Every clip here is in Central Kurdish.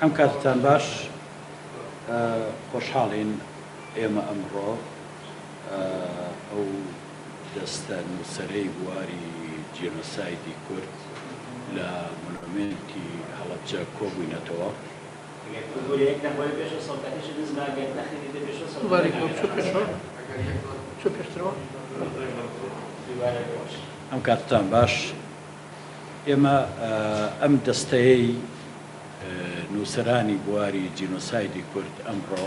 ئەم کاتتان باش خۆشحاڵین ئێمە ئەمڕۆ ئەو دەستە نووسەرەی بواری جینۆسایدی کورد لە مۆنۆمێنتی هەڵەبجە کۆبووینەتەوە. ئەم کاتتان باش. ئێمە ئەم دەستەیەی نووسەرانی بواری جینۆسایدی کورد ئەمڕۆ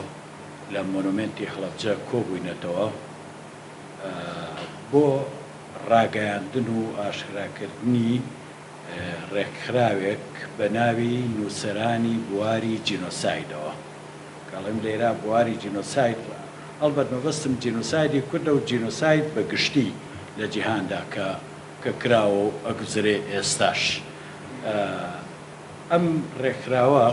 لە مۆنۆمێنتی هەڵەبجە کۆبووینەتەوە بۆ ڕاگەیاندن و ئاشکراکردنی ڕێکخراوێک بە ناوی نووسەرانی بواری جینۆسایدەوە. کە ئەڵێم لێرە بواری جینۆساید ئەڵبەت مەبەستم جینۆسایدی کوردە و جینۆساید بە گشتی لە جیهاندا کە کە کراوە و ئەگوزرێ ئێستاش ئەم رێکخراوە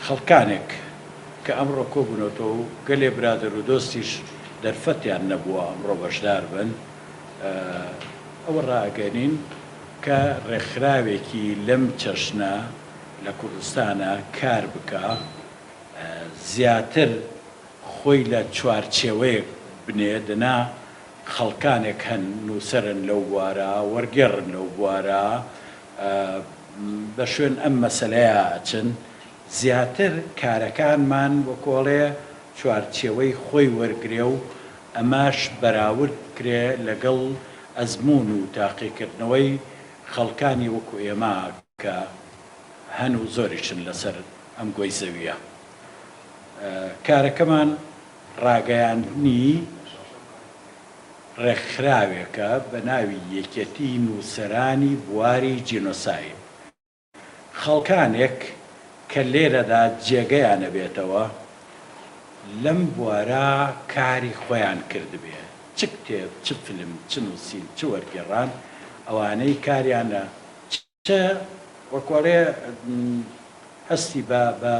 خەڵکانێک کە ئەمڕۆ کۆبونەتەوە و گەلێ برادەر و دۆستیش دەرفەتیان نەبووە ئەمڕۆ بەشدار بن ئەوە رائەگەنین کە رێکخراوێکی لەم چەشنە لە کوردستانا کار بکا زیاتر خۆی لە چوارچێوەیەک بنێ دەنا خەڵکانێک هەن نووسەرن لەو بوارە، وەرگێڕن لەو بوارە، بە شوێن ئەم مەسەلەیە ئەچن، زیاتر کارەکانمان وەکو ئەڵێ چوارچێوەی خۆی وەرگرێ و ئەمەش بەراورد بکرێ لەگەڵ ئەزموون و تاقیکردنەوەی خەڵکانی وەکو ئێمە کە هەن و زۆریشن لەسەر ئەم گۆی زەوییە کارەکەمان ڕاگەیاندنی ڕێکخراوێکە بە ناوی یەکێتی نووسەرانی بواری جینۆساید. خەڵکانێک کە لێرەدا جێگەیان نەبێتەوە لەم بوارە کاری خۆیان کردبێ، چ کتێب، چ فیلم، چ نووسین، چ وەرگێڕان، ئەوانەی کاریان لە. چ وەکو ئەڵێ هەستی بە بە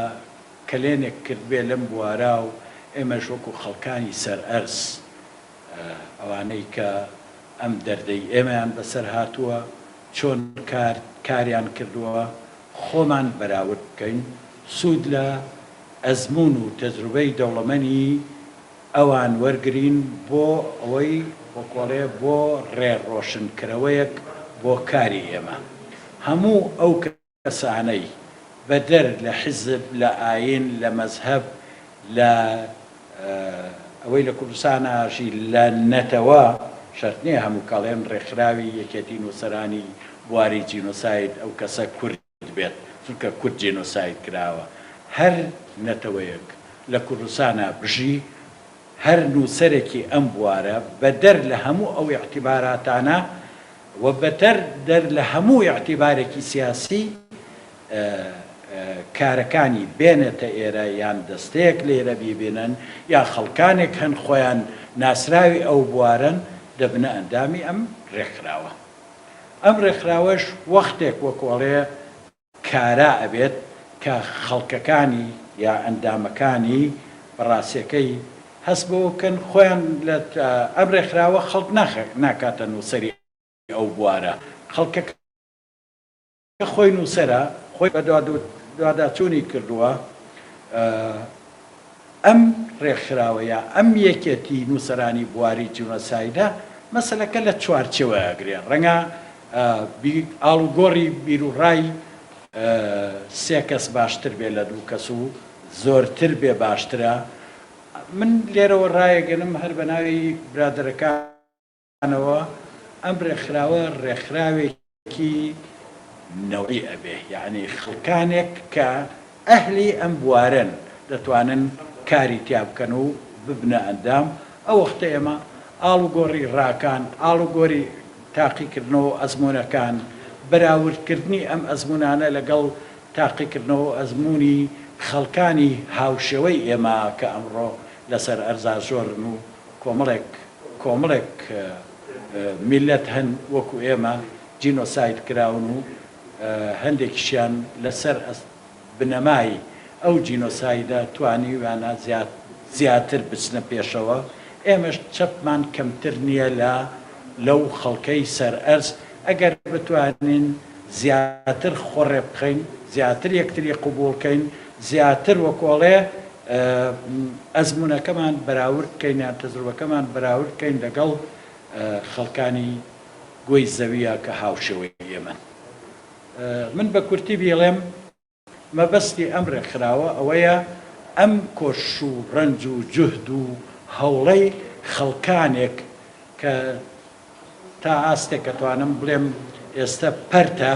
کەلێنێک کردبێ لەم بوارا و ئێمەش وەکو خەڵکانی سەر ئەرز ئەوانەی کە ئەم دەردەی ئێمەیان بەسەر هاتووە چۆن کار کاریان کردووە خۆمان بەراورد بکەین سوود لە ئەزموون و تەجروبەی دەوڵەمەنی ئەوان وەرگرین بۆ ئەوەی وەکوەڵێ بۆ ڕێ ڕۆشن کرەوەیەک بۆ کاری ئێمە هەموو ئەو کەسانەی بە دەر لە حیزب لە ئاین لە مەزهەب لە ئەوەی لە کوردستان ئاژی لە نەتەوە شەرت نیە هەموو کەڵێن ڕێکخراوی یەکێتی نوسەرانی بواری جینۆساید ئەو کەسە کورد بێت چونکە کورد جێنۆساید کراوە هەر نەتەوەیەک لە کوردستانا بژی هەر نوسەرێکی ئەم بوارە بە دەر لە هەموو ئەو ئیعتیباراتانە و بەتەر دەر لە هەموو ئیعتیبارێکی سیاسی کارەکانی بێنێتە ئێرە یان دەستەیەک لێرە بیبینن یا خەڵکانێک هەن خۆیان ناسراوی ئەو بوارەن دەبنە ئەندامی ئەم رێکخراوە. ئەم ڕێکخراوەش وەختێک وەکو ئەڵێ کارا ئەبێت کە خەڵکەکانی یا ئەندامەکانی بە ڕاستیەکەی هەست بەوە بکەن خۆیان لە ئەم ڕێکخراوە خەڵک ناکاتە نووسەری ئەو بوارە خەڵکەکە کە خۆی نووسەرە، خۆی بە دواداچوونی کردووە، ئەم ڕێکخراوە یا ئەم یەکێتی نووسەرانی بواری جینۆسایدە مەسەلەکە لە چوارچێوە ئەگرێ، ڕەنگە ئاڵوگۆڕی بیروڕای سێ کەس باشتر بێ لە دوو کەس و زۆرتر بێ باشترە، من لێرەوە ڕایەگەنم هەر بە ناوی برادەرەکانم، نەوە ئەم ڕێکخراوە ڕێکخراوێکی نەوعی ئەبێ یەعنی خەڵکانێک کە ئەهلی ئەم بوارەن دەتوانن کاری تیا بکەن و ببنە ئەندام ئەوەختە ئێمە ئاڵوگۆڕی ڕاکان ئاڵوگۆری تاقیکردنەوە ئەزمونەکان بەراوردکردنی ئەم ئەزمونانە لەگەڵ تاقیکردنەوە ئەزمونی خەڵکانی هاوشێوەی ئێمە کە ئەمڕۆ لەسەر ئەرزا زۆرن و کۆمەڵێک کۆمەڵێک میللەت هەن وەکو ئێمە جینۆساید کراون و هەندێکیشیان لەسەر بنەمای ئەو جینۆسایدە توانیویانە زیاتر بچنە پێشەوە، ئێمەش چەپمان کەمتر نییە لە لەو خەڵکەی سەرئەرز، ئەگەر بتوانین زیاتر خۆڕێ بخەین، زیاتر یەکتری قبوڵ کەین، زیاتر وەکۆڵێ. ئەزموونەکەمان بەراورد بکەین یان تەجروبەکەمان بەراورد بکەین لەگەڵ خەڵکانی گۆی زەویە کە هاوشێوەی ئێمەن. من بە کورتی بیڵێم مەبەستی ئەم ڕێکخراوە ئەوەیە ئەم کۆش و ڕەنج و جوهد و هەوڵەی خەڵکانێک کە تا ئاستێک ئەتوانم بڵێم ئێستە پەرتە،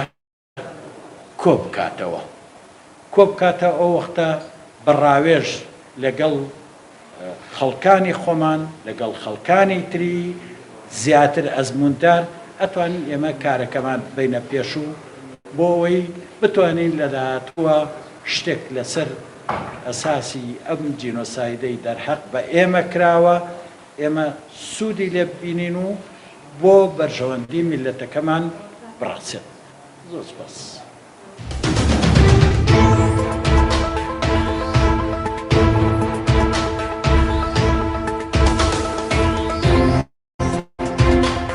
کۆبکاتەوە کۆبکاتەوە ئەوەختە بە ڕاوێژ لەگەڵ خەڵکانی خۆمان لەگەڵ خەڵکانی تری زیاتر ئەزمووندار ئەتوانین ئێمە کارەکەمان ببینە پێشوو بۆ ئەوەی بتوانین لە داهاتووە شتێک لەسەر ئەساسی ئەم جینۆسایدەی دەرحەق بە ئێمە کراوە ئێمە سوودی لێ ببینین و بۆ بەرژەوەندی میللەتەکەمان بڕەخسێت. زۆر سپاس.